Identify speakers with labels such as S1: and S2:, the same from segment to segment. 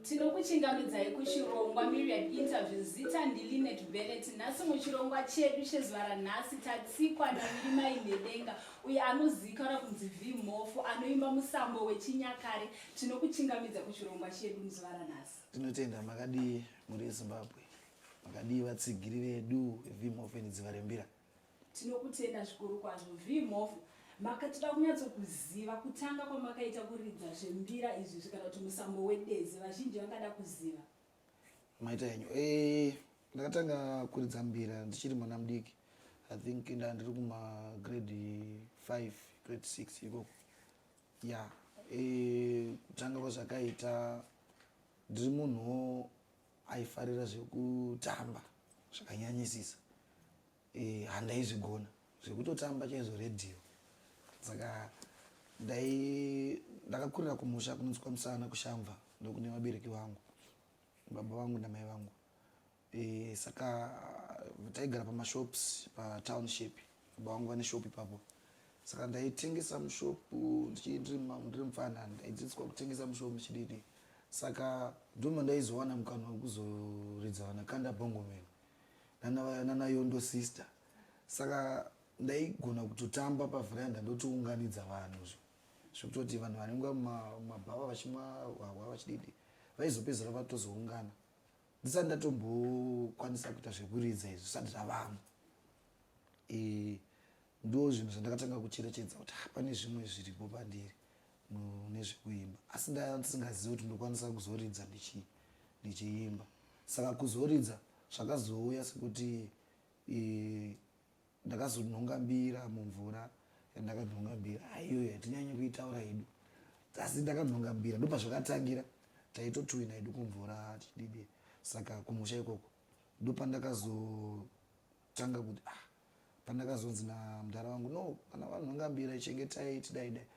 S1: tinokuchingamidzai kuchirongwa myriad interview zita ndilinet benet nhasi muchirongwa chedu chezuva ranhasi tatsikwa namirimai nedenga uye anozikana kunzi vimhofu anoimba musambo wechinyakare tinokuchingamidza kuchirongwa chedu muzuva ranhasi tinotenda makadii muri ezimbabwe makadii vatsigiri vedu vimhofu endidziva rembira Tinokutenda zvikuru kwazvo Vee Mhofu makatida kunyatsokuziva kutanga kwamakaita kuridza zvembira izvi zvikana kuti musambo wedezi vazhinji vangada kuziva maita henyu eh, ndakatanga kuridza mbira ndichiri mwana mudiki i think nda ndiri kumagrade 5 grade 6 ikoko ya eh, kutanga kwazvakaita ndiri munhuwo aifarira zvekutamba zvakanyanyisisa eh, handaizvigona zvekutotamba chaizvo redhiyo saka ndai ndakakurira kumusha kunonzi kwamusana kushamva ndokune vabereki vangu baba vangu namai vangu e, saka taigara pamashops patownship baba vangu vane shop ipapo saka ndaitengesa mushop ndichii ndiri mupfana ndaidzidziswa kutengesa mushop ndichididi saka ndoma ndaizowana mukana wekuzoridza vana kanda bongomeni nanayondo sister saka ndaigona kutotamba pavheranda ndotiunganidza vanhu zvo zvekutoti vanhu vanenge mumabhava vachimwa hwahwa vachididi vaizopedzera vatozoungana ndisati ndatombokwanisa kuita zvekuridza izvo zvisati zvavamo e, ndo zvinhu zvandakatanga kucherechedza kuti ah, pane zvimwe zviripo pandiri nezvekuimba asi ndasingazivi kuti ndokwanisa kuzoridza ndichiimba saka kuzoridza zvakazouya sekuti e, ndakazonhonga mbira mumvura yandakanhonga mbira aiyoyo ah, yatinyanye kuitaura hedu asi ndakanhonga mbira ndopazvakatangira taitotwina hedu kumvura tididi saka kumusha ikoko ndopandakazotanga kuti ah pandakazonzi namdara wangu no kana vanhu vangambira chengetai tidaidai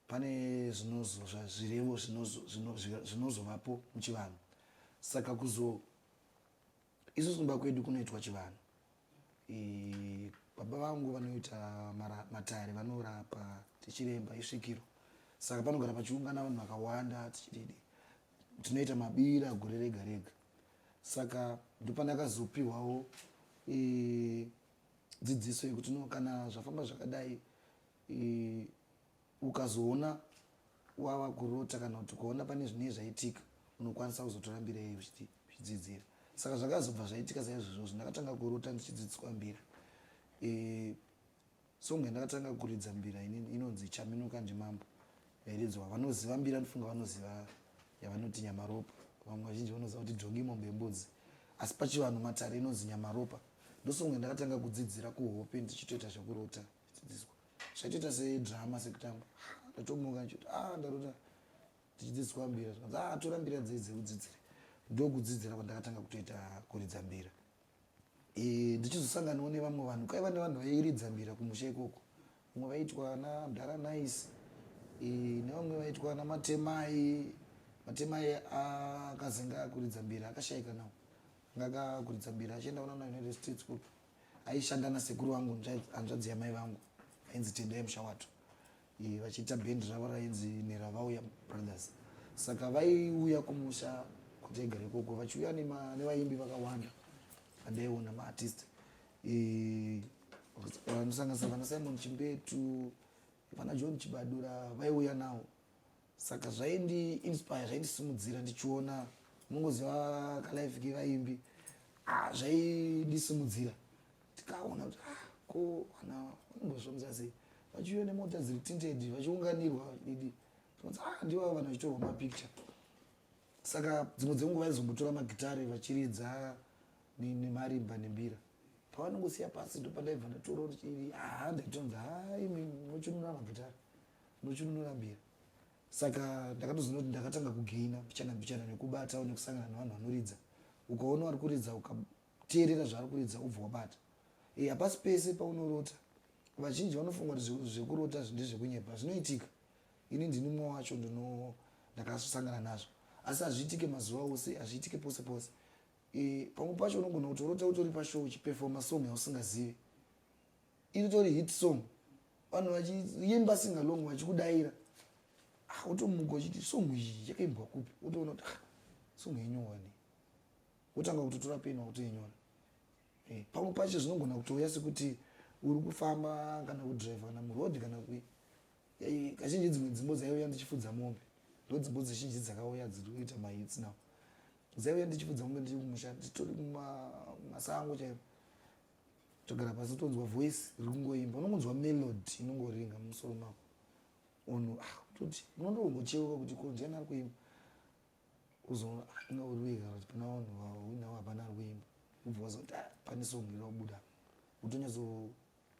S1: pane zvinozozva zvirevo zvinozovapo muchivanhu saka kuzo isusu kumba kwedu kunoitwa chivanhu baba vangu vanoita matare vanorapa tichiremba isvikiro saka panogara pachiungana vanhu vakawanda tichididi tinoita mabira gore rega rega saka ndopanakazopihwawo e, dzidziso yekuti no kana zvafamba zvakadai e, ukazoona wava kurota kana kuti ukaona pane zvinei zvaitika unokwanisa kuzotora mbira iyoyo zvidzidzira saka zvakazobva zvaitika saizvozvozvo ndakatanga kurota ndichidzidziswa mbira e, Song yandakatanga kuridza mbira inini inonzi Chaminuka ndiMambo yairidzwa vanoziva mbira ndifunga vanoziva yavanoti Nyamaropa vamwe vazhinji vanoziva kuti Jongi Mombe Yembudzi asi pachivanhu matare inonzi Nyamaropa ndosong yandakatanga kudzidzira kuhope ndichitoita zvekurota chidzidziswa zvaitoita sedrama sekutamba ndatomuka ndichiti a ah, ndarota tichidzidziswa mbira zvikanzi a ah, tora mbira dzei dzekudzidzira ndokudzidzira kwandakatanga kutoita kuridza mbira Eh, ndichizosanganawo nevamwe vanhu kwaiva nevanhu vairidza mbira kumusha ikoko vamwe vaitwa ana mdara nice eh, nevamwe vaitwa ana matemai matemai akazenga akuridza mbira akashaika nawo anga akuridza mbira achienda kunana united states koko aishanda nasekuru vangu hanzvadzi yamai vangu ainzi tendai mushawato Eh, vachiita band ravo rainzi neravauya brothers saka vaiuya kumusha kuti egere ikoko vachiuya nevaimbi vakawanda vandaiona maartist eh, vanosanganisa vana simon chimbetu vana john chibadura vaiuya nawo saka zvaindi inspire zvaindisimudzira ndichiona mungoziva kalife kevaimbi ah, zvaindisimudzira tikaona kuti ah, ko vana vanombozvomza sei vachiuya nemota dziri tinted vachiunganirwa vachididi tinonzi ah ndivo avo vanhu vachitorwa mapicture saka dzimwe dzenguva vaizombotora magitare vachiridza nemarimba nembira pavanongosiya pasi ndopandaiva ndatoro ii haa ah, ndaitonzi haa imi nochinunura magitare nochinunura mbira saka ndakatozoona kuti ndakatanga kugaina mbichana mbichana nekubatawo nekusangana nevanhu vanoridza ukaona vari kuridza teerera zvaari kuridza ubva wabata e, hapasi pese paunorota vazhinji vanofunga kuti zvekurota ndezvekunyepa zvinoitika ini ndini mumwe wacho ndino ndakasangana nazvo asi hazviitike mazuva ose hazviitike pose pose e, pamwe pacho unogona kutorota utori pashow uchipefoma song yausingazivi iri tori hit song vanhu vachiimba singalong vachikudaira ah, utomuka uchiti song iyi yakaimbwa kupi utoona kuti ah, song yenyowani wotanga kutotora peni wakutoinyora eh, pamwe pacho zvinogona kutouya sekuti uri kufamba kana kudriver kana muroad kana kui kazhinji dzimwe dzimbo dzaiuya ndichifudza mombe ndo dzimbo dzizhinji dzakauya dziri kuita mahits now dzaiuya ndichifudza mombe ndiri kumusha nditori kumasango chaivo togara pasi tonzwa voice riri kungoimba unongonzwa melody inongoringa mumusoro mako unhu ah, kutoti unondoongocheuka kuti ko ndiani ari kuimba uzoona ina uri wega kuti pana vanhu vauinawo hapana ari kuimba ubva wazoti ah, pane song iri kubuda utonyazo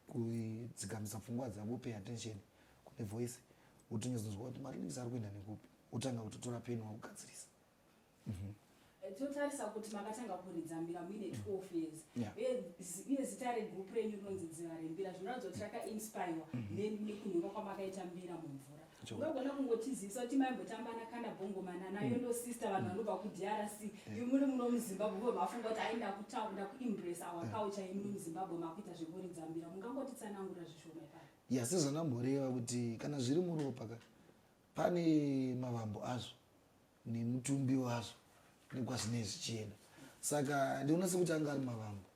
S1: kuidzikamisa pfungwa dzavo pay attention kune voice utonyazonzwa kuti marinix ari kuenda nekupi utanga kutotora peni wakugadzirisa mm -hmm totarisa kuti makatanga kuridza mbira muine 12 years uye zita regroup renyu rinonzi dziva rembira zvinoratidza kuti rakainspirwa mm-hmm. nekunhuka kwamakaita mbira mumvura unogona kungotizivisa kuti maimbotambana kana bongomana nayo mm. ndo sister vanhu vanobva kudrc mm. imuri muno muzimbabwe vo mafunga kuti aenda kutaun nda kuimbresa our mm. culture imuri muzimbabwe makuita zvekuridzambira mungangotitsanangura zvishoma ipaa ya sezvanamboreva kuti kana zviri muropa ka pane mavambo azvo nemutumbi wazvo nekwazvinei zvichienda saka ndinoona sekuti anga ari mavambo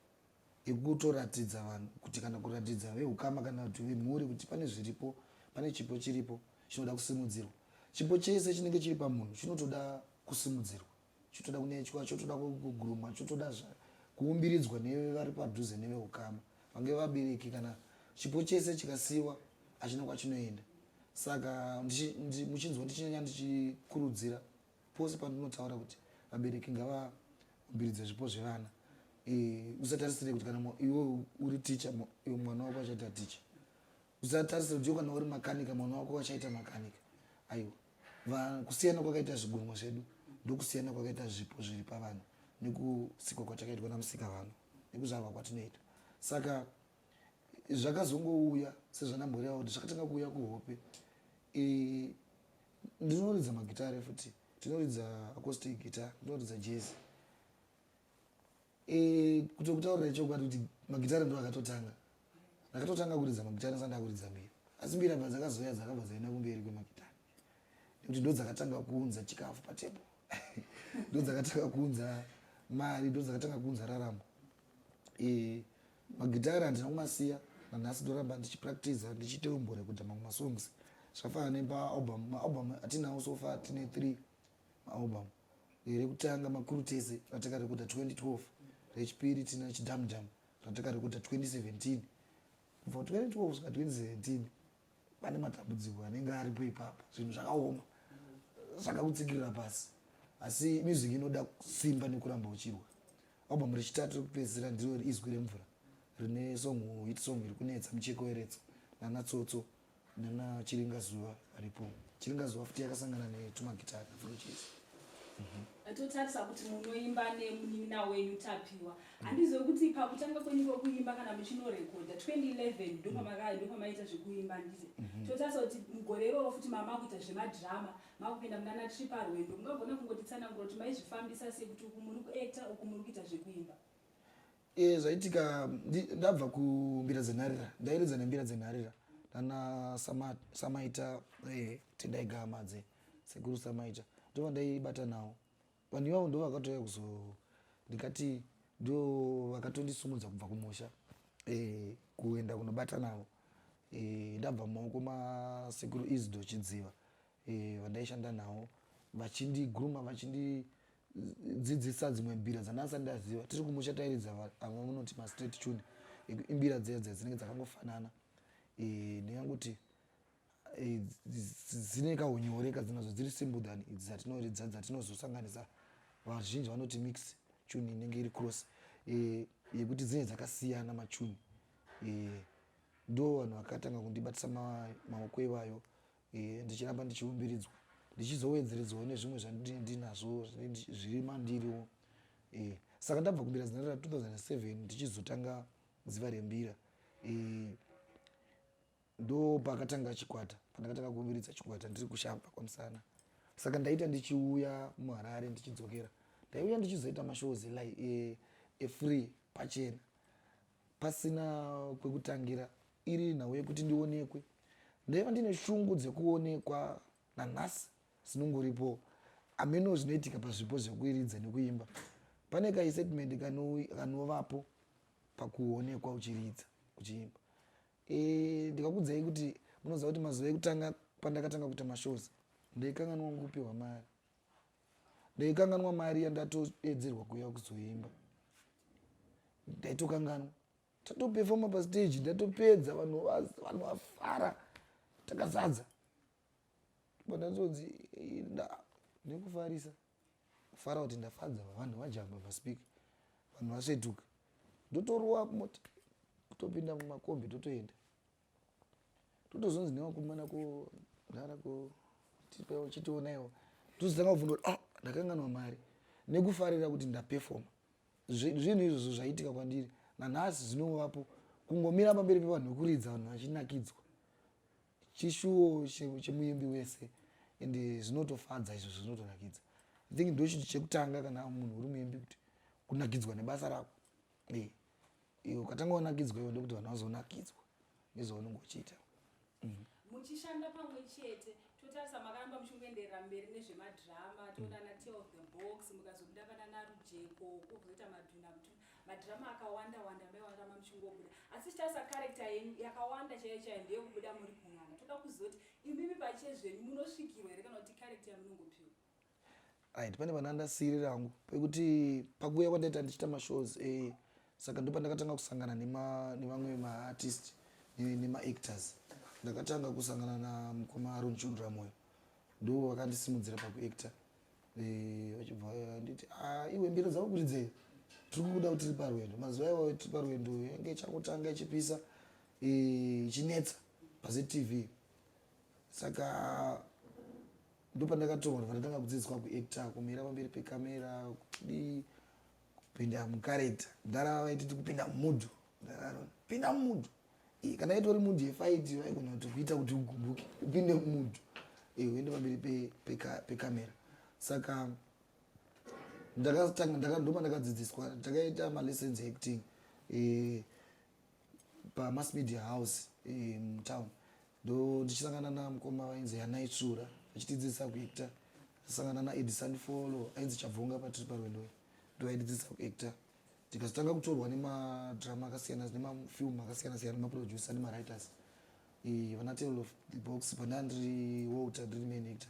S1: yekutoratidza vanhu kuti kana kuratidza vehukama kana kuti vemhuri kuti pane zviripo pane chipo chiripo chinoda kusimudzirwa chipo chese chinenge chiri pamunhu chinotoda kusimudzirwa chotoda kunechwa chotoda kugurumwa chotoda kuumbiridzwa nevari padhuze nevehukama vange vabereki kana chipo chese chikasiyiwa achina kwachinoenda saka muchinzwa ndichinyanya ndichikurudzira Pose pandinotaura kuti vabereki ngavabhiridze zvipo zvevana eh, usatarisire kuti kana iwe uri ticha mwana wako achaita ticha usatarisire kuti iwe kana uri makanika mwana wako achaita makanika aiwa kusiyana kwakaita zvigunwa zvedu ndokusiyana kwakaita zvipo zviri pavana nekusikwa kwatakaitwa namusika vano nekuzvarwa kwatinoita saka zvakazongouya sezvanamhuri yavo kuti zvakatanga kuuya kuhope ndinoridza magitare futi ndinoridza acoustic guitar ndinoridza jazz e, kuti kutaurira chokwadi kuti magitare ndo akatotanga ndakatotanga kuridza magitare sanda kuridza mbiri asi mbiri abva dzakazoya dzakabva dzaenda kumberi kwemagitare nekuti ndo dzakatanga kuunza chikafu patebo ndo dzakatanga kuunza mari ndo dzakatanga kuunza raramo e, Magitare handina kumasiya nanhasi ndoramba ndichipractiza ndichiita umbore kuita mamwe masongs zvakafanana nemaalbum maalbum atinawo so far tine three maalbum rekutanga makuru tese ratakarekoda 2012 rechipiri tina chidamdam ratakarekoda 2017 kubva 2012 svika 2017 pane matambudziko anenge aripo ipapo zvinhu zvakaoma saka kutsikirira pasi asi music inoda simba nekuramba uchirwa album rechitatu rekupedzisira ndiro izwi remvura rine song hit song iri kunetsa mucheko weretso nana tsotso nana chiringazuva varipo chiringazuva futi yakasangana netumagitari afrochesi totarisa kuti munoimba nemunin'ina wenyu tapiwa handizive kuti pakutanga kwenyu kwekuimba kana muchinorekodha 2011 ndopamakaa ndopamaita zvekuimba ndize mhm. totarisa kuti mugore iroro futi mama kuita zvemadrama makupinda munana tiri parwendo mungagona kungotitsanangura kuti maizvifambisa sei kuti uku muri kuacta uku muri kuita zvekuimba e, zvaitika ndabva kumbira dzenharira ndairidza nembira dzenharira nana samaita e, tendai gamadze sekuru samaita ndova ndaibata nawo vanhu ivavo ndo vakatouya kuzo ndikati ndo vakatondisumudza kubva kumusha e, kuenda kunobata navo e, ndabva mumaoko masekuru isdo chidziva e, vandaishanda nawo vachindiguruma vachindi dzidzisa dzimwe mbira dzandasati ndaziva tiri kumusha tairidza vamwe munoti mastraight tune imbira dzeya dzeya dzinenge dzakangofanana eh, neyanguti eh, dzine kaunyore kadzinazo dziri simple than idzi dzatinoridza dzatinozosanganisa vazhinji vanoti mix tune inenge iri cross eh, yekuti dzinenge dzakasiyana matune ndo vanhu vakatanga kundibatisa maoko ivayo Ehe, ndichiramba ndichiumbiridzwa, ndichizowedzeredzawo nezvimwe zvandinenge ndinazvo zviri mandiriwo. Ehe, saka ndabva kumbira zina ra 2007 ndichizotanga ziva rembira. Ehe, ndo pakatanga chikwata, pandakatanga kuumbiridza chikwata ndiri kushamva kwamusana. Saka ndaita ndichiuya muHarare ndichidzokera. Ndaiuya ndichizoita mashows e, e free pachena. Pasina kwekutangira, iri nhau yekuti ndionekwe. Ndaiva ndine shungu dzekuonekwa nanhasi dzinongoripo ameno zvinoitika pazvipo zvekuiridza nekuimba. Pane kaisetimendi kanovapo pakuonekwa uchiridza uchiimba. E, ndikakudzai kuti munoziva kuti mazuva ekutanga pandakatanga kuita mashows ndaikanganwa kupiwa mari. ndaikanganwa mari yandatoedzerwa kuya kuzoimba ndaitokanganwa tatopefoma pastage ndatopedza vanhu vanhu vafara takazadza pandatonzi nekufarisa kufara kuti ndafadza vanhu vajamba paspika vanhu vasvetuka ndotorowa mota kutopinda mumakombi totoenda totozonzi nevakomana kudhara ko tipewo chitionaiwo tozotanga kuvhunda kuti ah ndakanganwa mari nekufarira kuti ndapefoma zvinhu izvozvo zvaiitika kwandiri nanhasi zvinovapo kungomira pamberi pevanhu vekuridza vanhu vachinakidzwa chishuwo chemuimbi wese and zvinotofadza izvo zvinotonakidza i think ndochinhu chekutanga kana munhu uri muimbi kuti kunakidzwa nebasa rako Hey, iwe ukatanga wanakidzwa iwe ndokuti vanhu vazonakidzwa nezvaunenge uchiita mm. muchishanda pamwe chete totarisa makaramba muchingoenderera mberi nezvemadhirama toonana mm. tale of the box mukazobuda vana narujeko kuzoita madhuna kuti madhirama akawanda wanda maiwarama muchingobuda asi chitarisa karekta yenyu yakawanda chaiyo chaiyo ndeyekubuda muri kun'anga toda kuzoti imimi pachezvenyu munosvikirwa here kana kuti karekta yamunongopiwa Right, pane vana ndasiri rangu pekuti pakuuya kwandaita ndichita mashows eh, saka ndo pandakatanga kusangana nevamwe maartist nemaactors ndakatanga kusangana na mukoma aron chundura moyo ndo vakandisimudzira pakuacta eh, vachibva eh, nditi ah, iwe mbiro dzavo kuti dzei tiri kukuda kuti tiri parwendo mazuva iwayo tiri parwendo yange ichangotanga ichipisa eh, ichinetsa pazetv saka ndopandakatoona pandakanga kudzidziswa kuacta kumira pamberi pekamera kudii kupinda mukareta ndarava vaititi kupinda mumudhu ndararona pinda mumudhu kana itori mudhu yefaiti vaigona kuti kuita kuti ugumbuke upinde mumudhu uende pamberi pekamera saka ndakatanga ndakandoma ndakadzidziswa takaita malessons acting pamass media house eh, mutown um, ndo ndichisangana namukoma vainzi yanaitsvura achitidzidzisa kuactor asangana naedison folo ainzi chabvonga patiri parwendoyo ndo aididzidzisa kuactor tikazotanga kutorwa nemadrama akasiyana nemafilm akasiyana siyana nemaproducer nemawriters e, vana table of the box pandandiri walter ndiri main actor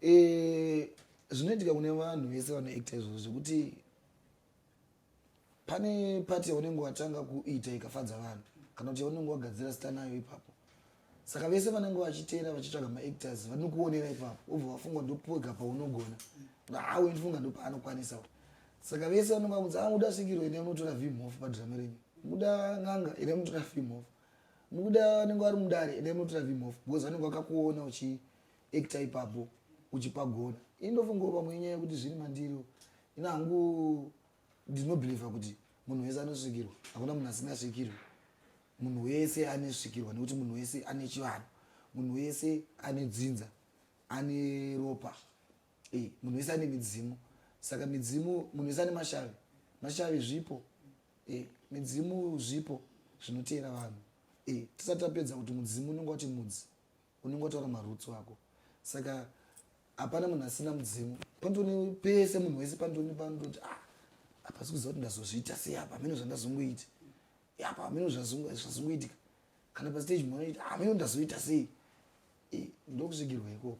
S1: Eh, zvinoitika kune vanhu vese vanoacta izvozvo zvekuti pane pati yaunenge watanga kuita ikafadza vanhu kana kuti yaunenge wagadzira sita nayo ipapo saka vese vanenge vachiteera vachitsvaga maactors vanokuonera ipapo obva vafunga ndopoga paunogona awe ndifunga ndopaanokwanisa saka vese vanenge vakunzi a ah, muda svikiro ine munotora vimhof padrama renyu muda n'anga ine munotora vimhof mukuda vanenge vari mudare ine munotora vimhof because vanenge vakakuona uchi ekta ipapo uchipagona ini ndofungawo pamwe inyaya yekuti zviri mandiri ini hangu ndinobhilivha kuti munhu wese anosvikirwa hakuna munhu asingasvikirwi munhu wese anesvikirwa nekuti munhu wese ane chivanhu munhu wese ane dzinza ane ropa eh, munhu wese ane midzimu saka midzimu munhu wese ane mashavi mashavi zvipo eh, midzimu zvipo zvinoteera vanhu eh, tisati tapedza kuti mudzimu unenge wati mudzi Unenge wataura maroots wako. Saka hapana munhu asina mudzimu. Pandoni pese munhu wese pandoni pandoti ah apa sikuziva kuti ndazozviita sei apa hameno zvandazongoiti. Apa hameno zvazongoitika. Kana pa stage mwana ita hameno ndazoita sei. Eh, ndokusvigirwa ikoko.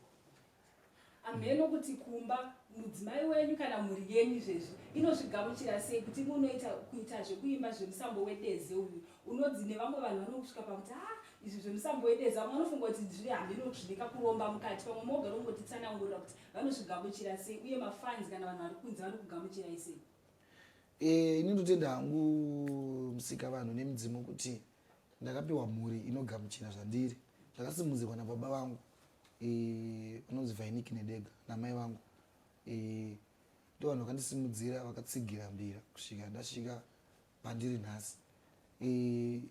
S1: hamheno kuti kumba mudzimai wenyu kana mhuri yenyu izvezvi inozvigamuchira sei kuti imwe unoita kuita zvekuimba zvemusambo wedeze uyu unodzi nevamwe vanhu vanokusvika pakuti ha ah, izvi zvemusambo wedeze vamwe vanofunga kuti zviri hamheno kuti zvine kakuromba mukati pamwe mogara ungotitsanangurira kuti vanozvigamuchira sei uye mafanzi kana vanhu vari kunze vanokugamuchirai sei eh, ini ndotenda hangu musika vanhu nemudzimu kuti ndakapiwa mhuri inogamuchira zvandiri zvakasimudzirwa nababa vangu eh, vanonzi vainiki nedega namai vangu eh, ndo vanhu vakandisimudzira vakatsigira mbira kusvika ndasvika pandiri nhasi eh,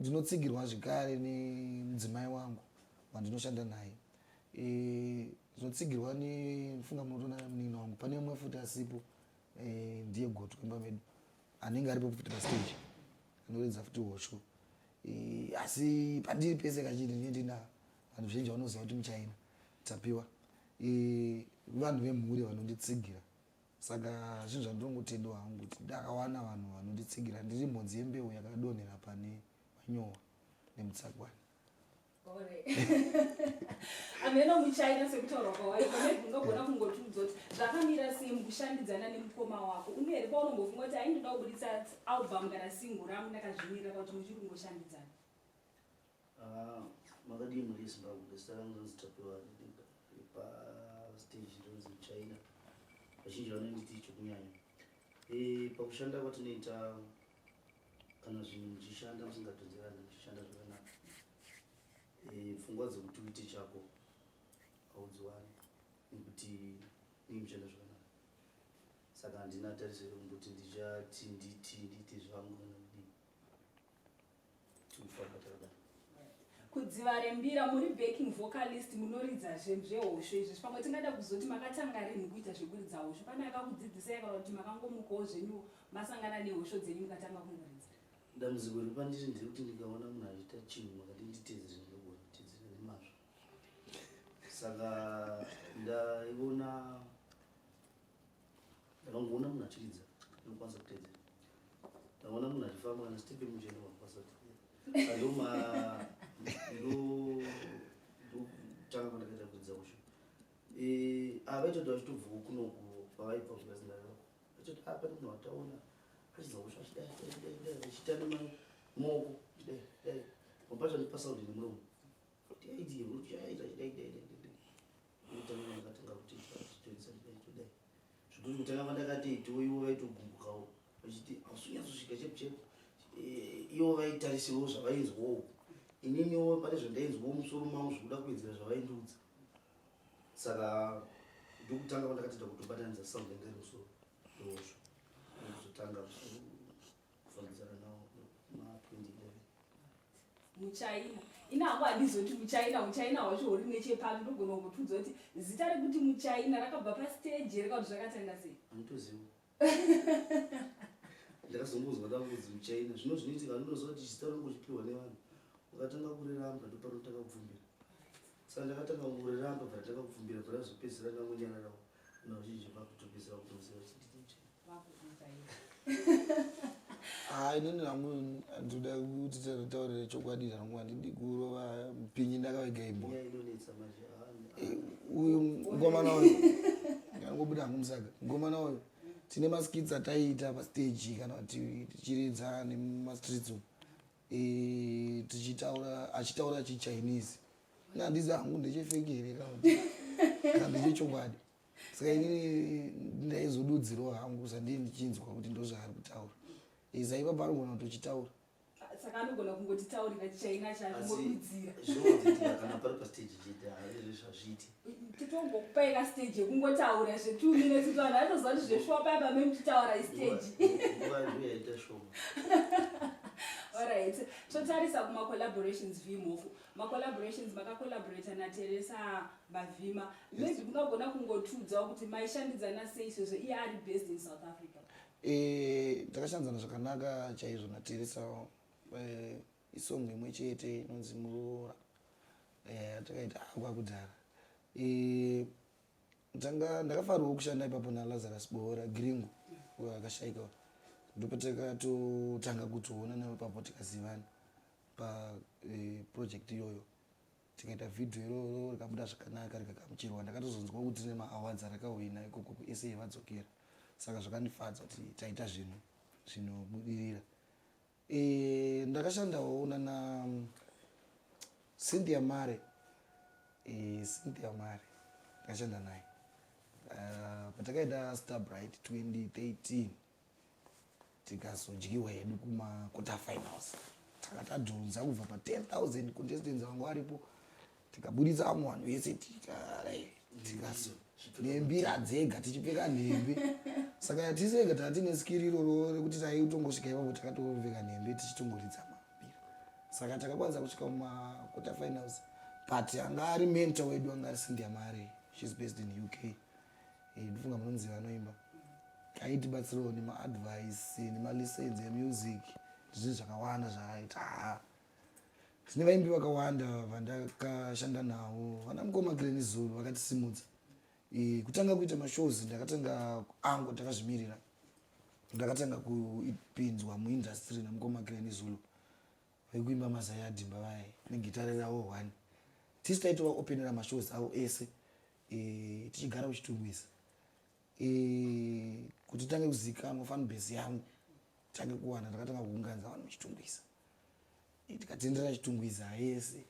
S1: ndinotsigirwa zvekare nemudzimai wangu wandinoshanda naye zvinotsigirwa nefunga munotoona munin'ina wangu pane umwe futi asipo ndiye goto kwemba medu anenge aripo futi pastage anoridza futi hosho eh, asi pandiri pese kachiti ndine ndina vanhu zvinji vanoziva kuti muchaina tapiwa eh, vanhu vemhuri vanonditsigira saka zvinhu zvandinongotendewa hangu kuti ndakawana vanhu vanonditsigira ndiri mhodzi yembeu yakadonhera pane manyowa nemutsagwani ameno muchaita sekutaura kwawaiko maybe ungagona kungotiudza kuti zvakamira sei mukushandidzana nemukoma wako une here paunongofunga kuti aindoda kubuditsa album kana single rangu ndakazvimirira pakuti muchiri kungoshandidzana ah, makadii muri yezimbabwe zita rangu rinonzi tapiwa pastage rinonzi muchina vazhinji vanonditi chokunyanya eh, pakushanda kwatinoita kana zvinhu muchishanda musingatonzerani muchishanda zvakanaka eh, pfungwa dzekuti uite chako haudziwani nekuti nii muchishanda zvakanaka saka handina tariso yekumboti ndichati nditi nditi zvangu kana kudii tiufabatadana kudziva rembira muri backing vocalist munoridza zvehosho izvi pamwe tingada kuzoti makatanga rinhu kuita zvekuridza hosho pane akakudzidzisai kana kuti makangomukawo zvenyu masangana nehosho dzenyu mukatanga kungoridza dambudziko riri pandiri nderekuti ndikaona munhu achiita chinhu makati nditedzere ndinogona kutedzera nemazvo saka ndaiona ndakangoona munhu achiridza ndinokwanisa kutedzera ndaona munhu achifamba kana stepe mucheno wakwanisa kutedzera andoma ndokutanga kwandakaita kuridza kusho avaitoti vachitobvawo kunoku pavaibva kukazinaa achiti apa ah, munhu wataona achidza kusho achidaidaidaidaachitana maoko chidai dai mapatani pasaudi nemuromo Futi yaiti ruchi yaita chidaidaidaidaidaidaidaidai ndakatanga kuti toisa chidai todai zvekuti kutanga kwandakati itiwo ivo vaitogumbukawo vachiti hausunyatsosvika chepu chepu eh, ivo vaitarisirwo zvavainzwawo ininiwo pane zvandainzwawo musoro mavo zvekuda kuwedzera zvavaindiudza saka ndokutanga kwandakatida kutobatanidza sound yanga iri musoro ndozvo ndokuzotanga muchaina ina hangu handizoti muchaina muchaina hwacho huri nechepapi ndogona kungotiudza kuti zita rekuti muchaina rakabva pasteji here kauti zvakatanga sei anitoziva ndakazongozwa ndakuzi muchaina zvino zvinoitika ndinoziva kuti zita rangu chipiwa nevanhu vakatanga kuriramba ndopanotanga kubvumbira saka ndakatanga kuriramba bva ndakabvumbira bva razopedzera ndangonyararawo Nozhinji vakutopedzera kuti muziva kuti ndiri muchena. Vakukuita iwe. Ah, inini hangu ndinoda kuti tataurire chokwadi zvangu handidi kurova mupinyi ndakavega imbwa. Nyaya inonetsa manje. Ah, Eh, uyu mukomana uyu angobuda hangu musaga mukomana uyu tine maskits ataiita pastage kana kuti tichiridza nemumastreets umu Eh, tichitaura achitaura chichinese na handizi hangu ndechefeki here kana ndechechokwadi saka inini ndaizodudzirawo hangu sandii ndichinzwa kuti ndozvaari kutaura izaiva eh, paanogona kutochitaura saka anogona kungotitaurira chichaina chaodudzira kana pari pastage chete haizvezvazviiti titongokupai ka stage yekungotaura zve two minutes kuti vanhu vatoziva kuti zveshuwa paya pamee muchitaura istage orit totarisa kumacollaborations vimhofu macollaborations makacollaborata nateresa mavhima maybe mungagona kungotiudzawo kuti maishandidzana sei sezvo iye ari based in south africa eh, takashandidzana zvakanaka chaizvo nateresa eh, isong imwe chete inonzi muroora eh, takaita ah, kwakudzara eh, tanga ndakafarwa kushanda ipapo nalazarus bohora gringo akashaika ndopatakatotanga kutoona navo papo tikazivana paproject eh, iyoyo tikaita vhidhiyo iroro rikabuda zvakanaka rikagamuchirwa ndakatozonzwa kuti ne maawards arakahwina ikoko kusa vadzokera saka zvakandifadza kuti taita zvinhu zvinobudirira E, ndakashandawo nana mm, Cynthia Mare. E, Cynthia Mare. Ndakashanda naye. Uh, patakaita Star Bright 2013 tikazodyiwa hedu kuma quarter finals. Takatadhunza kubva pa 10,000 contestants vangu varipo. tikaburitsa vamwe vanhu vese tikaso nembira dzega tichipfeka nhembe saka yatisega taa tine skiri iroro rekuti taitongosvika ipapo takatoveka nhembe tichitongoridza mabira saka takakwanisa kusvika mumaquarter finals but anga ari mentor wedu anga ari sindia mari shes based in uk eh, ndifunga munonzi vanoimba aitibatsirawo nemaadvice nemalicense emusic ndizvinhu zvakawanda zvaaita Zvine vaimbi vakawanda vandakashanda navo vana mukoma Glen Zulu vakatisimudza. E, kutanga kuita mashows ndakatanga angu ndakazvimirira. Ndakatanga kupinzwa muindustry na mukoma Glen Zulu. Vekuimba mazai adhimba vaye negitare ravo one. Tisi taitovaopenera mashows avo ese e, tichigara uchitungwisa. Eh, kuti itange kuzikanwa fan base yangu tange kuwana takatanga kuunganidza vanhu muchitungwiza eh, tikatendera chitungwiza yese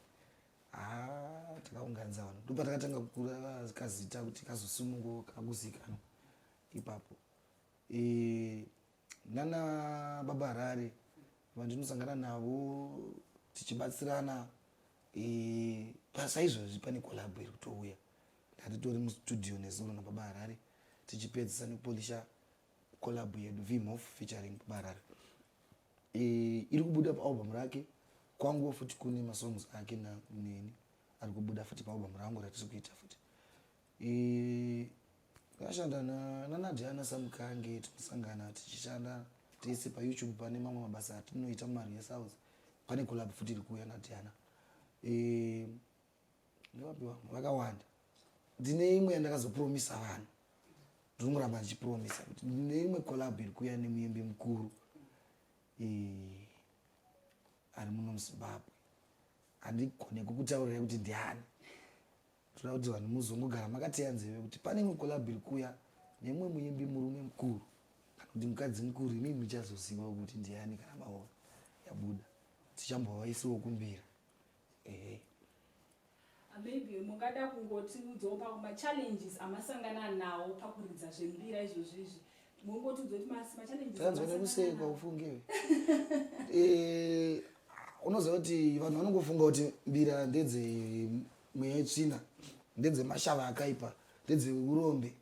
S1: ah, takaunganidza vanhu ndopa takatanga kukura kazita kuti kazosununguka kakuzikanwa ipapo eh, nana baba harare vandinosangana navo tichibatsirana pasaizvozvi pane kolabo iri kutouya Ndatitori mustudio nezuro nababa Harare tichipedzisa nekupolisha collab yedu Vimhof featuring baba Harare. E, iri kubuda paalbum rake kwangu futi kune masongs ake na neni ari kubuda futi paalbum rangu ratiri kuita futi. E, ndashanda na nanadiana samukange tinosangana tichishanda tese payoutube pane mamwe mabasa atinoita mumari yesouth pane collab futi iri kuuya nadiana e, ndinopiwa vakawanda ndine imwe yandakazopromisa vanhu ndinongoramba ndichipromisa kuti ndine imwe collab iri kuuya nemuimbi mukuru ari muno muzimbabwe handigone kukutaurirai kuti ndiani toda kuti vanhu muzongogara makateya nzeve kuti pane imwe collab iri kuuya nemumwe muimbi murume mukuru kana kuti mukadzi mukuru imi muchazoziva kuti ndiani kana maona yabuda tichambovaisiwo kumbira ehe maybe mungada kungotiudzawo pamachallenges amasangana nawo pakuridza zvembira izvozvi izvi mongotizotmaanzwanekusekwa ufunge eh, unoziva kuti vanhu vanongofunga kuti mbira ndedze mweya yetsvina ndedze mashava akaipa ndedze urombe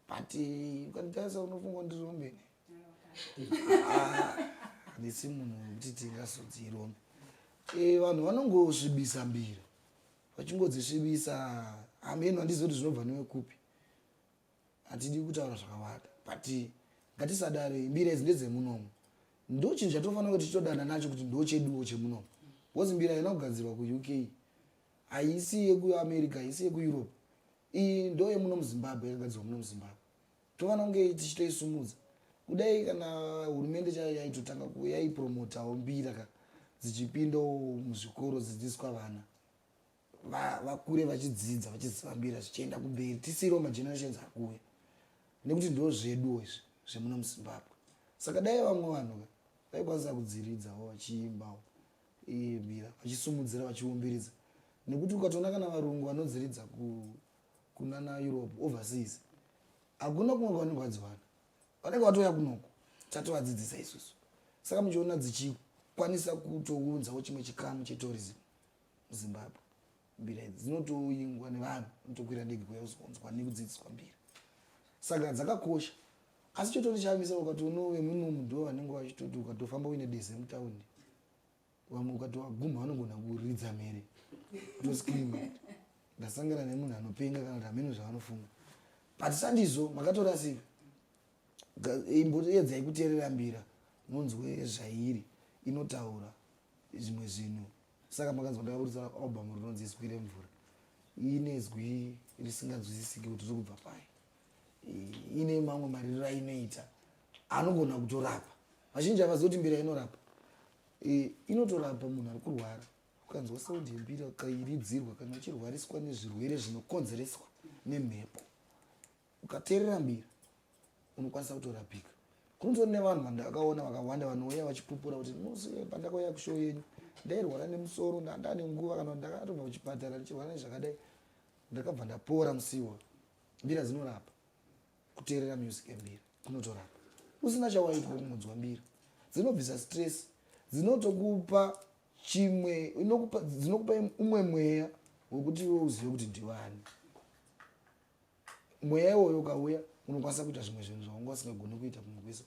S1: but eh, ukanditarisa unofunga ndirombe nesi munhu wekuti tingasodzi irombe eh, vanhu vanongosvibisa mbira vachingodzisvibisa hameno handizi kuti zvinobva newe kupi hatidi kutaura zvakawanda but ngatisadare mbira idzi ndedzemunomo ndo chinhu chatofanira kuti titodana nacho kuti ndo cheduwo chemunomo bcause mbira haina kugadzirwa kuuk haisi yekuamerica haisi yekueurope iyi ndo yemuno muzimbabwe yakagadzirwa muno muzimbabwe toona kunge tichitoisumudza kudai kana hurumende chayo yaitotanga yaipromotawo mbira ka dzichipindawo muzvikoro dzidzidziswa vana vakure vachidzidza vachiziva mbira zvichienda kumberi tisiiriwo magenerations akuuya nekuti ndo zveduwo izvi zvemuno muzimbabwe saka dai vamwe vanhu ka vaikwanisa kudziridzawo vachiimbawo mbira vachisumudzira vachiumbiridza nekuti ukatoona kana varungu vanodziridza ku kunana europe overseas hakuna kumwe kwavanenge vadziwana vanenge vatouya kunoko tatovadzidzisa isusu saka muchiona dzichikwanisa kutounzawo chimwe chikamu chetourism muzimbabwe mbira idzi dzinotoingwa nevanhu unotokwira ndege kuya uzonzwa nekudzidziswa mbira saka dzakakosha asi chototi chamisa ukati unove munomu ndo vanenge vachitoti ukatofamba uine deze mutaundi vamwe ukati waguma vanogona kuridza mhere toscream ndasangana nemunhu anopenga kana kuti hameno zvavanofunga but sandizo makatorasika imboyedzai kuteerera mbira munzwe zvairi inotaura zvimwe zvinhu saka makanzwa ndakaburitsa album rinonzi izwi remvura ine zwi risinganzwisisiki kuti riri kubva pai ine mamwe maririro ainoita anogona kutorapa vazhinji havazivi kuti mbira inorapa e, inotorapa munhu ari kurwara ukanzwa sound yembira ukairidzirwa kana uchirwariswa nezvirwere zvinokonzereswa nemhepo ukateerera mbira unokwanisa kutorapika kunotori nevanhu vandakaona vakawanda vanouya vachipupura kuti musi pandakauya kushow yenyu ndairwara nemusoro ndandane nguva kana ndakatobva kuchipatara ndichirwara nezvakadai ndakabva ndapora musiwo mbira dzinorapa kuteerera music yembira kunotorapa usina chawaitwa kungonzwa mbira dzinobvisa stress dzinotokupa chimwe dzinokupa umwe mweya wekuti iwe uzive kuti ndivani mweya iwoyo ukauya unokwanisa kuita zvimwe zvinhu zvaunga usingagoni kuita kumwe kwese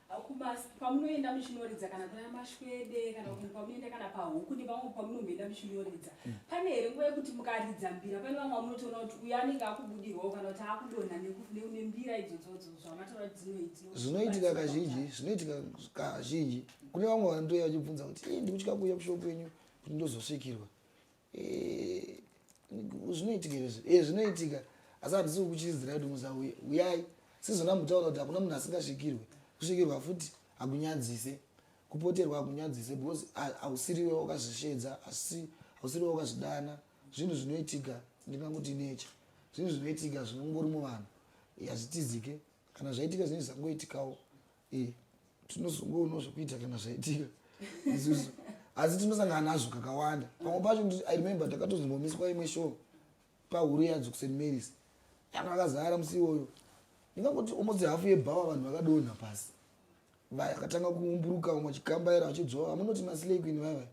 S1: Hakubasa pamunoenda muchinoridza kana kuna mashwede kana kuti pamunoenda kana pahuku nepamwe pamunomboenda muchinoridza mm. pane here nguva yekuti mukaridza mbira pane vamwe vamunotoona kuti uyo anenge akubudirwawo kana kuti akudonha nembira idzodzodzo zvamataura kuti dzinoiti zvinoitika kazhinji zvinoitika kazhinji kune vamwe vanotouya vachibvunza kuti ii ndikutya kuuya kushopu yenyu kuti ndozosvikirwa zvinoitika izvi e eh, zvinoitika asi handisi kukuchidzira kuti musauye uyai sizona mutaura kuti hakuna munhu asingasvikirwe kusvikirwa futi hakunyadzise kupoterwa hakunyadzise because hausiriwe wakazvisvedza asi hausiriwe wakazvidana zvinhu zvinoitika ndinganguti nature zvinhu zvinoitika zvinongori muvanhu hazvitizike kana zvaitika zvinhu zvisangoitikawo e tinozongoonawo zvekuita kana zvaitika isusu asi tinosangana nazvo kakawanda pamwe pacho i remember takatozombomiswa imwe show pahuru yadzo kust marys yanga akazara musi iwoyo ndingangoti almost hafu yebhawa vanhu vakadonha pasi vakatanga kuumburuka vamwe vachikambaira vachidzvova amunoti maslay queen vaivai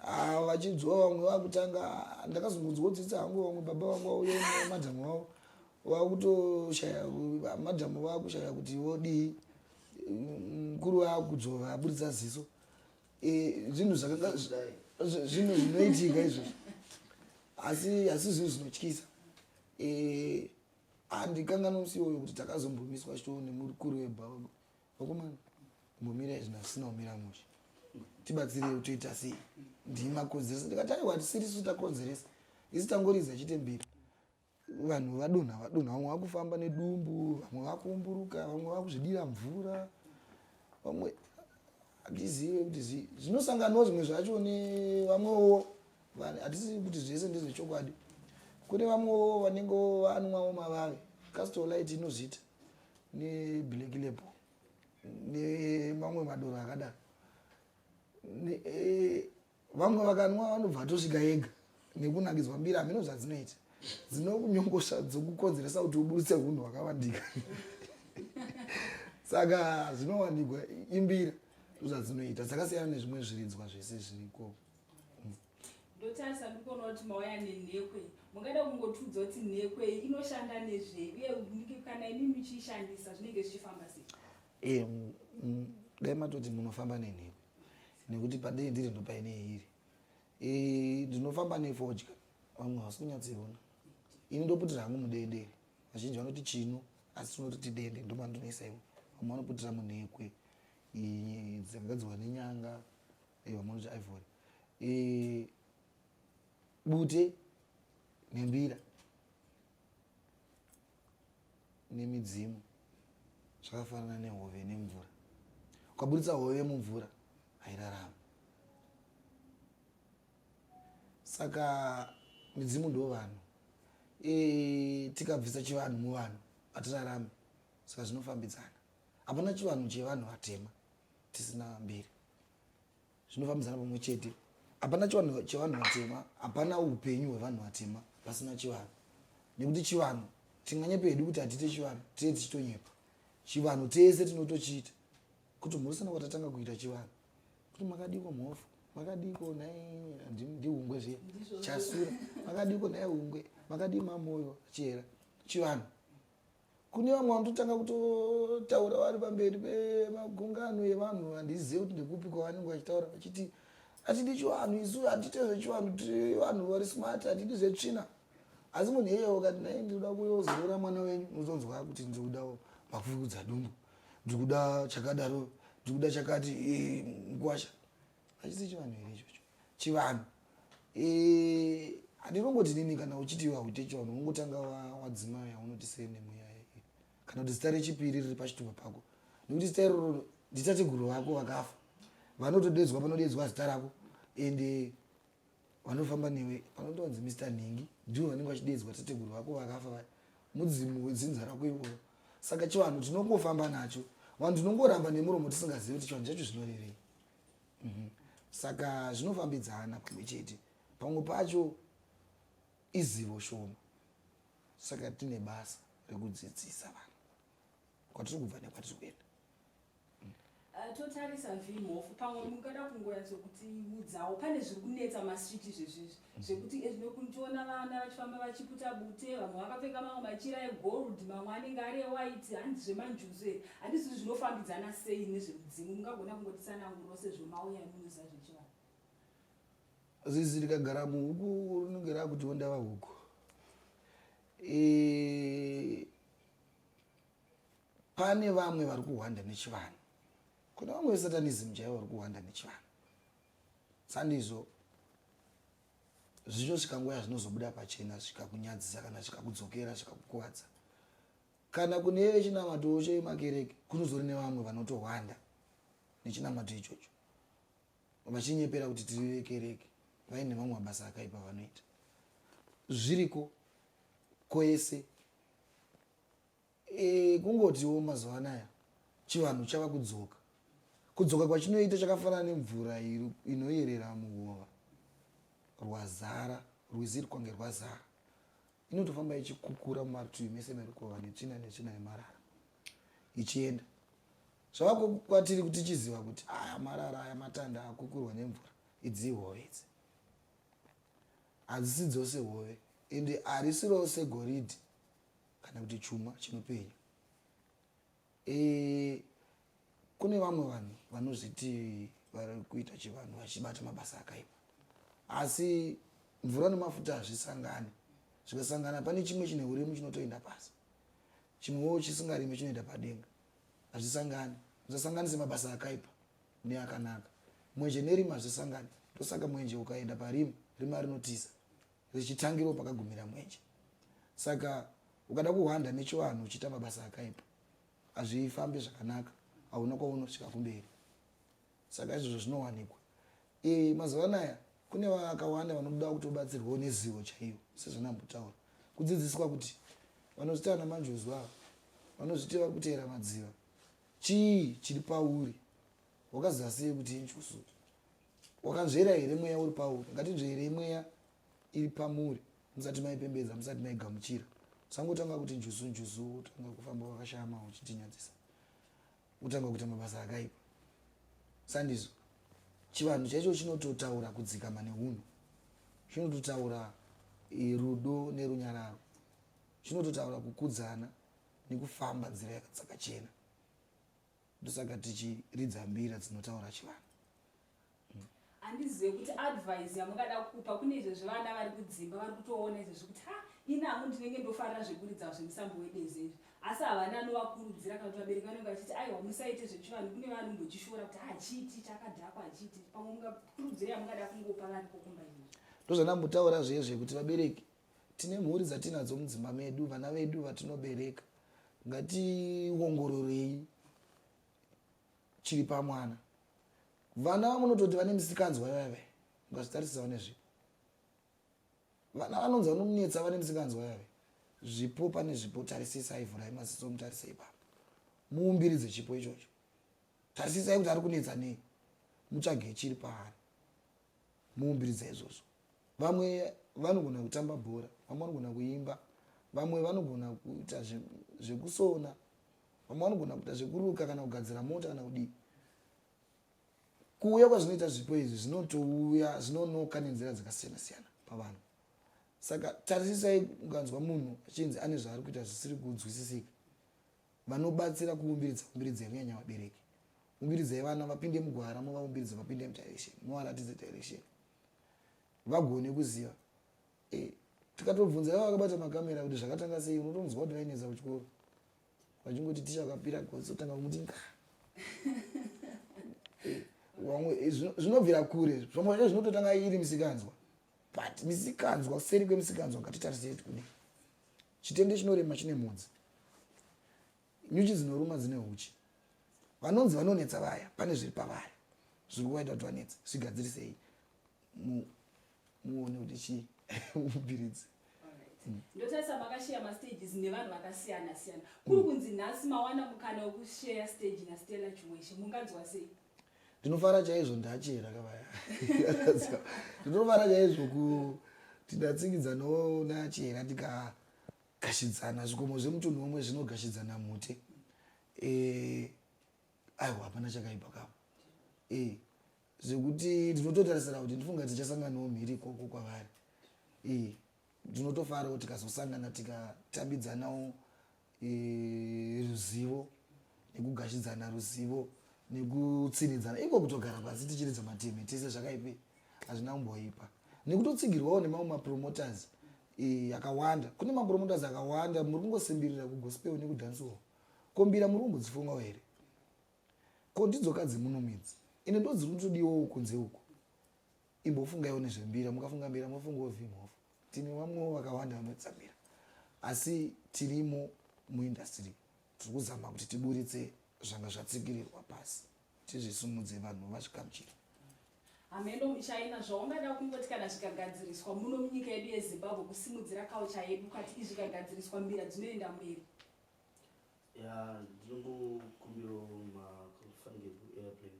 S1: Ah, vachinzwa vamwe vakutanga ndakazongonzwa kuti tsitsa hangu vamwe baba vangu vauya nemadhamu vavo vakutoshaya madhamu vakushaya kuti vodii mukuru vakudzova aburitsa ziso e, zvinhu zvakanga zvinhu zvinoitika izvozvo asi asi zvinhu zvinotyisa e, handikanga nomusi iwoyo kuti takazombomiswa chitoo nemukuru webaba Vakomana, mumira izvi nasina kumira mushe. Tibatsirei utoita sei? Ndimi makonzeresa. Ndikati aiwa hatisiri isu takonzeresa. Isu tangoriza chete mbiri. Vanhu vadonha vadonha vamwe vakufamba nedumbu, vamwe vakuumburuka, vamwe vakuzvidira mvura. Vamwe hatizive kuti zii. Zvinosanganwa zvimwe zvacho nevamwewo vanhu hatisivi kuti zvese ndezvechokwadi. Kune vamwewo vanenge vanwawo mavave. Castor Light inozviita. neblack label nemamwe madoro akadaro eh, vamwe vakanwa vanobva atosvika yega nekunakidzwa mbiri hameno zvadzinoita dzinokunyongosha dzokukonzeresa kuti uburitse hunhu hwakavandika saka zvinowanikwa imbira zvadzinoita dzakasiyana nezvimwe zviridzwa zvese zviriko ndotarisa ndikuona kuti mauya nenhekwe mungada kungotiudza kuti nhekwe inoshanda nezvei uye kana imi muchiishandisa zvinenge zvichifamba sei eh, dai matoti munofamba nenhekwe nekuti padei ndiri ndopaine iri eh, ndinofamba nefodya vamwe havasi kunyatsoiona ini ndoputira hangu mudendere vazhinji vanoti chino asi tinototi dende ndomandinoisaiwo vamwe vanoputira munhekwe dzakagadzirwa nenyanga aiwa munonzi ivory e, bute nembira nemidzimu zvakafanana nehove nemvura ukaburitsa hove mumvura hairarama saka midzimu ndo vanhu e, tikabvisa chivanhu muvanhu hatirarame saka zvinofambidzana hapana chivanhu chevanhu vatema tisina mbiri zvinofambisana pamwe chete hapana chivanhu chevanhu vatema hapana upenyu hwevanhu vatema pasina chivanhu nekuti chivanhu tinganyepa hedu kuti hatiite chivanhu tee tichitonyepa chivanhu tese tinotochiita kuti mhorisana kwatatanga kuita chivanhu kuti makadiko mhofu makadiko nhai ndihungwe zviya chasura makadiko nhai hungwe makadii mamoyo chera chivanhu kune vamwe vanototanga kutotaura vari pamberi pemagungano evanhu handizive kuti ndekupi kwavanenge vachitaura vachiti hatidi chivanhu isu hatite zvechivanhu vanhu vari smart hatidi zvetsvina asi munhu iyeye ukati nai ndikuda kuyozorora mwana wenyu unozonzwa kuti ndikuda makufukudza dumbu ndikuda chakadaro ndikuda chakati mkwasha hachisi chivanhu here ichocho chivanhu eh, handirongoti nini kana uchiti wahute chivanhu ungotanga wadzima yaunoti senemweya kana kuti zita rechipiri riri pachitupa pako nekuti zita iroro nditateguru vako vakafa vanotodedzwa panodeedzwa zita rako ende vanofamba newe panondonzi mr nhingi ndivo vanenge vachideedzwa tateguru vako vakafa vaya mudzimu wedzinza rako iwoyo saka chivanhu tinongofamba nacho vanhu tinongoramba nemuromo tisingazivi kuti chivanhu chacho zvinorevei mhm. saka zvinofambidzana pamwe chete pamwe pacho izivo shoma saka tine basa rekudzidzisa vanhu kwatiri kubva nekwatiri kuenda ah, totarisa vimhofu pamwe mungada kungoyatso kuti udzawo pane zviri kunetsa masiti zvezvizvi mm. zvekuti ezvinokutiona eh, vana vachifamba vachiputa bute vamwe vakapfeka mamwe machira egold mamwe anenge ari ewhite handi zvemanjuzu e handisi kuti zvinofambidzana sei nezvemudzimu mungagona kungotisananguro sezvo mauya munoza zvechivanhu zizi rikagara muhuku rinenge raakutiwo ndava huku eh, pane vamwe vari kuhwanda nechivanhu kune vamwe vesatanism chaivo vari kuhwanda nechivanhu sandizvo zvichosvika nguva yazvinozobuda pachena zvikakunyadzisa kana zvikakudzokera zvikakukuvadza kana kune vechinamato cho yemakereke kunozori nevamwe vanotohwanda nechinamato ichocho vachinyepera kuti tiri vekereke vaine mamwe mabasa akaipa vanoita zviriko kwese e, kungotiwo mazuva anaya chivanhu chava kudzoka kudzoka kwachinoita chakafanana nemvura inoyerera muhova rwazara rwizi rwkange rwazara inotofamba ichikukura mumarutivi mese merukova netsvina netsvina yemarara ichienda zvavako kwatiri kuti tichiziva kuti aya marara aya matanda akukurwa nemvura idzihova idzi Hadzisi dzose hove, ende harisi rose goridhe kana kuti chuma chinopenya. E, kune vamwe vanhu vanozviti vari kuita chivanhu vachibata mabasa akaipa, asi mvura nemafuta hazvisangani. Zvikasangana pane chimwe chine urimu chinotoenda pasi, chimwewo chisingarime chinoenda padenga. Hazvisangani. Musasanganise mabasa akaipa. neakanaka mwenje nerima hazvisangani ndosaka mwenje ukaenda parima rima rinotiza richitangirawo pakagumira mwenje saka ukada kuhwanda nechivanhu uchiita mabasa akaipa hazvifambi zvakanaka hauna kwaunosvika kumberi saka izvozvo zvinowanikwa e, mazuva anaya kune vakawanda vanoda kuti ubatsirwewo nezivo chaiyo sezvanambotaura kudzidziswa kuti vanozviti ana manjuzu ava vanozviti vari kuteera madziva Chii chiri pauri? Wakaziva sei kuti injusu? Wakanzvera here mweya uri pauri? Ngatinzverei mweya iri pamuri musati maipembedza, musati maigamuchira. Usangotanga kuti njuzu njuzu, utanga kufamba wakashama uchitinyadzisa, utanga kuita mabasa akaipa. Sandizvo chivanhu chaicho chinototaura kudzikama neunhu, chinototaura eh, rudo nerunyararo, chinototaura kukudzana nekufamba nzira yakadzakachena ndosaka tichiridza mbira dzinotaura chivanhu hmm. handizive kuti advise yamungada kupa kune izvezvi vana vari kudzimba vari kutoona izvezvi kuti ha inangu ndinenge ndofarira zvekuridza zvemusambo wedezi izvi asi havana anovakurudzira kana kuti vabereki vanenge vachiti aiwa musaite zvechivanhu kune vanhu mbochishora kuti hachiiti chakadhakwa hachiiti pamwe mungakurudzira yamungada kungopa vari kokumba izvezvi ndozvandambotaura zviye zvekuti vabereki Tine mhuri dzatinadzo mudzimba medu, vana vedu vatinobereka, ngationgororei chiri pamwana. Vana vamunototi vane misikanzwa yave, mukazvitarisisa vane zvipo. Vana vanonzi vanonetsa vane misikanzwa yave, zvipo pane zvipo, tarisisai, vhurai maziso mutarise ipapo, muumbiridze chipo ichocho, tarisisai kuti ari kunetsa nei, mutsvage chiri paari. muumbiri dzaizvozvo vamwe vanogona kutamba bhora vamwe vanogona kuimba vamwe vanogona kuita zvekusona vamwe vanogona kuita zvekuruka kana kugadzira mota kana kudii kuuya kwazvinoita zvipo izvi zvinotouya zvinonoka nenzira dzakasiyana siyana pavanhu saka tarisisai ukanzwa munhu achinzi ane zvaari kuita zvisiri kunzwisisika vanobatsira kuumbiridza umbiridza yekunyanya vabereki umbiridzai vana vapinde mugwara movaumbiridzo vapinde mudirection movaratidze direction vagone kuziva eh, tikatobvunza iva vakabata makamera kuti zvakatanga sei unotonzwa kuti vainetsa kuchikoro vachingoti ticha vakapira gotsi kutanga kumuti nka eh, eh, zvinobvira kure zvamwe zvacho zvinototanga iri misikanzwa but misikanzwa kuseri kwemisikanzwa ngatitarisei kuti kudii Chitende chinorema chine mhodzi. Nyuchi dzinoruma dzine huchi. Vanonzi vanonetsa vaya pane zviri pavari zviri kuvaita kuti vanetsa zvigadzirisei muone kuti chii mubiridzi mm. ndotarisa makasheya mastages nevanhu vakasiyana siyana kuri mm. kunzi nhasi mawana mukana wekusheya stage nastella chimweshe munganzwa sei ndinofara chaizvo ndachera kavaya ndinofara chaizvo kuti ndatsikidza nonachera ndikagashidzana zvikomo zvemutunhu womwe zvinogashidzana mhute eh, aiwa hapana chakaipa kavo eh, zvekuti ndinototarisira kuti ndifunga tichasanganawo mhiri ikoko kwavari eh, ndinotofarawo tikazosangana tikatambidzanawo ruzivo nekugashidzana ruzivo nekutsinidzana iko kutogara pasi tichiridza mateme tese zvakaipi hazvina kumboipa nekutotsigirwawo nemamwe mapromoters akawanda kune mapromoters akawanda muri kungosimbirira kugospel nekudhansiwo kombira muri kumbodzifungawo here ko ndidzoka dzimuno midzi ine ndodzi kutodiwowo kunze uku imbofungaiwo nezvembira mukafunga mbira mofungawo vimhofu tine vamwewo vakawanda vanoitisa mbira asi tirimo muindastry tiri kuzama kuti tiburitse zvanga zvatsikirirwa pasi tizvisumudze vanhu vazvikamchira hameno muchina zvaungada kungoti kana zvikagadziriswa muno munyika yedu yezimbabwe kusimudzira kaucha yedu kati izvi kagadziriswa mbira dzinoenda mberi ya ndinokumbiro mafanike kuairplane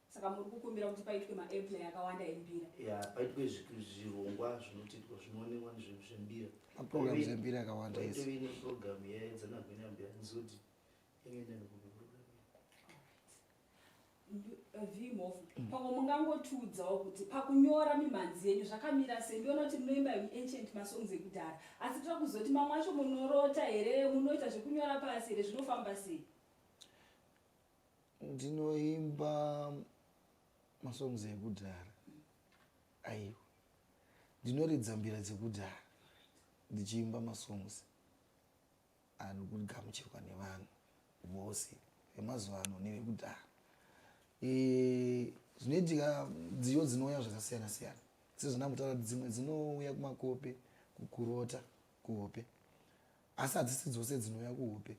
S1: saka muri kukumbira kuti paitwe maairplay akawanda embira ya paitwe zvirongwa zvinotiitwa zvinoonekwa nezvembira maprogram zembira akawanda itovi neprogram yaedzanagwenya mbira ndizoti ingenda nekupi program eh, vimhofu mm. pamwe mungangotiudzawo kuti pakunyora mimhanzi yenyu zvakamira sei ndiona kuti munoimba ancient masongs ekudhara asi tira kuzoti mamwe acho munorota here munoita zvekunyora pasi here zvinofamba sei ndinoimba masongs ekudhara aiwa ndinoridza mbira dzekudhara ndichiimba masongs ari kugamuchirwa nevanhu vose vemazuva ano nevekudhara e, zvinoitika dziyo dzinouya zvakasiyana siyana sezvandamutaura kuti dzimwe dzinouya kumakope kukurota kuhope asi hadzisi dzose dzinouya kuhope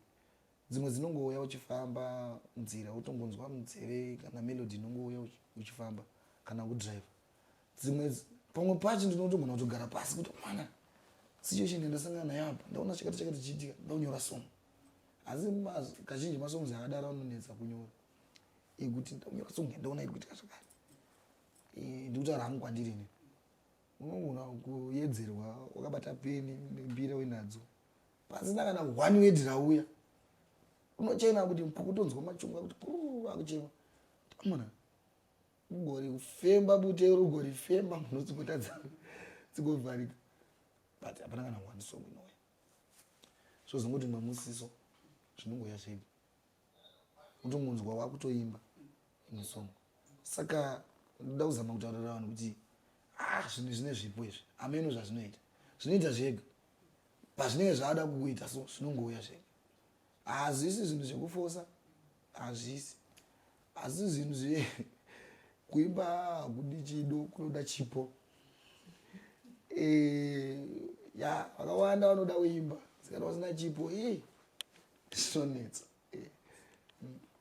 S1: dzimwe dzinongouya uchifamba nzira utongonzwa munzeve kana melody inongouya uchifamba kana kudriver dzimwe pamwe pacho ndinotogona kutogara pasi kuti mwana situation yandasangana nayo apa ndaona chakati chakati chiitika ndaunyora song asi kazhinji masongs akadaro anonetsa kunyora ekuti ndaunyora song yandaona iri kuitika zvakati ndikutaura hangu kwandiri ini unogona kuyedzerwa wakabata peni mbira uinadzo pasina kana one word rauya unochema kuti kutonzwa machunga kuti akuchema amona ugori kufemba bute uri ugori femba mhuno dzingotadza dzingovharika but hapana kana one song inouya zvozongoti mamusiso zvinongoya zvedi kuti munzwa wakutoimba imwe song saka ndoda kuzama kutaurira vanhu kuti ah, zvinhu zvine zvipo izvi ameno zvazvinoita zvinoita zvega pazvinenge zvaada kukuita so zvinongouya zvega hazvisi zvinhu zvekufosa hazvisi asi zvinhu zve kuimba hakudi chido kunoda chipo eh, ya vakawanda vanoda kuimba sikana vasina chipo ii zvinonetsa eh.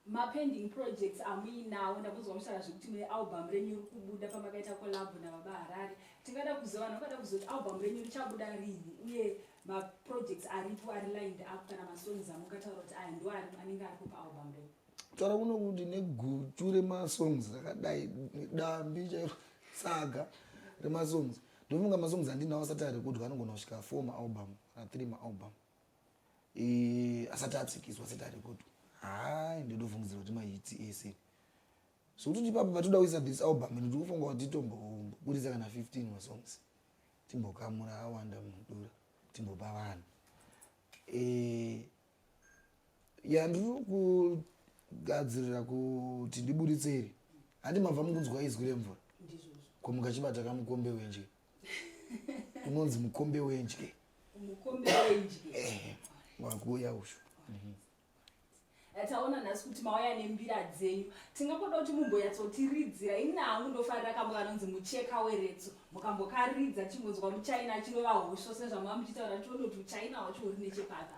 S1: mapending projects amuinawo ndakunzwa muchitaura zvekuti mune album renyu iri kubuda pamakaita kolabho nababa harare tingada kuziva vanhu vangada kuziva kuti album renyu richabuda rini uye maprojects aripo ari lined up kana masongs amungataura kuti aya ndo anenge aripo paalbum renyu taura kuno kuti negutu remasongs rakadai dambi chairo saga remasongs ndofunga masongs andinawo asati arekudwa anogona kusvika four maalbum kana three maalbum eh, asati atsikiswa asati arekodwa hai ndotofungidzira kuti mahiti ese sokuti kuti ipapo patoda kuisa this album ndiri kufunga kuti titomboburitsa kana 15 masongs timbokamura awanda mudura timbopa vanhu eh, ya ndiri kugadzirira kuti ndiburitseri handi mabva mukunzwa izwi remvura komuka chibata kamukombe wenje unonzi mukombe wendye mukombe wendye eh, wakuuya ushu mhm. eh, taona nhasi kuti mauya nembira dzenyu tingakoda kuti mumbonyatsotiridzira ini nahangu ndofarira kambo kanonzi mucheka weretso mukambokaridza chingonzwa muchaina chinova hosho sezvamava muchitaura tione kuti uchaina hwacho huri nechepata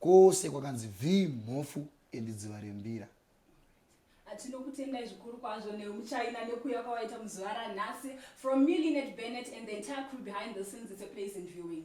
S1: Kwose kwakanzi vhii mhofu and dziva rembira. Tinokutendai zvikuru kwazvo nemuchaina nekuuya kwawaita muzuva ranhasi from me Linet Bennett and the entire crew behind the scenes it's a pleasant viewing.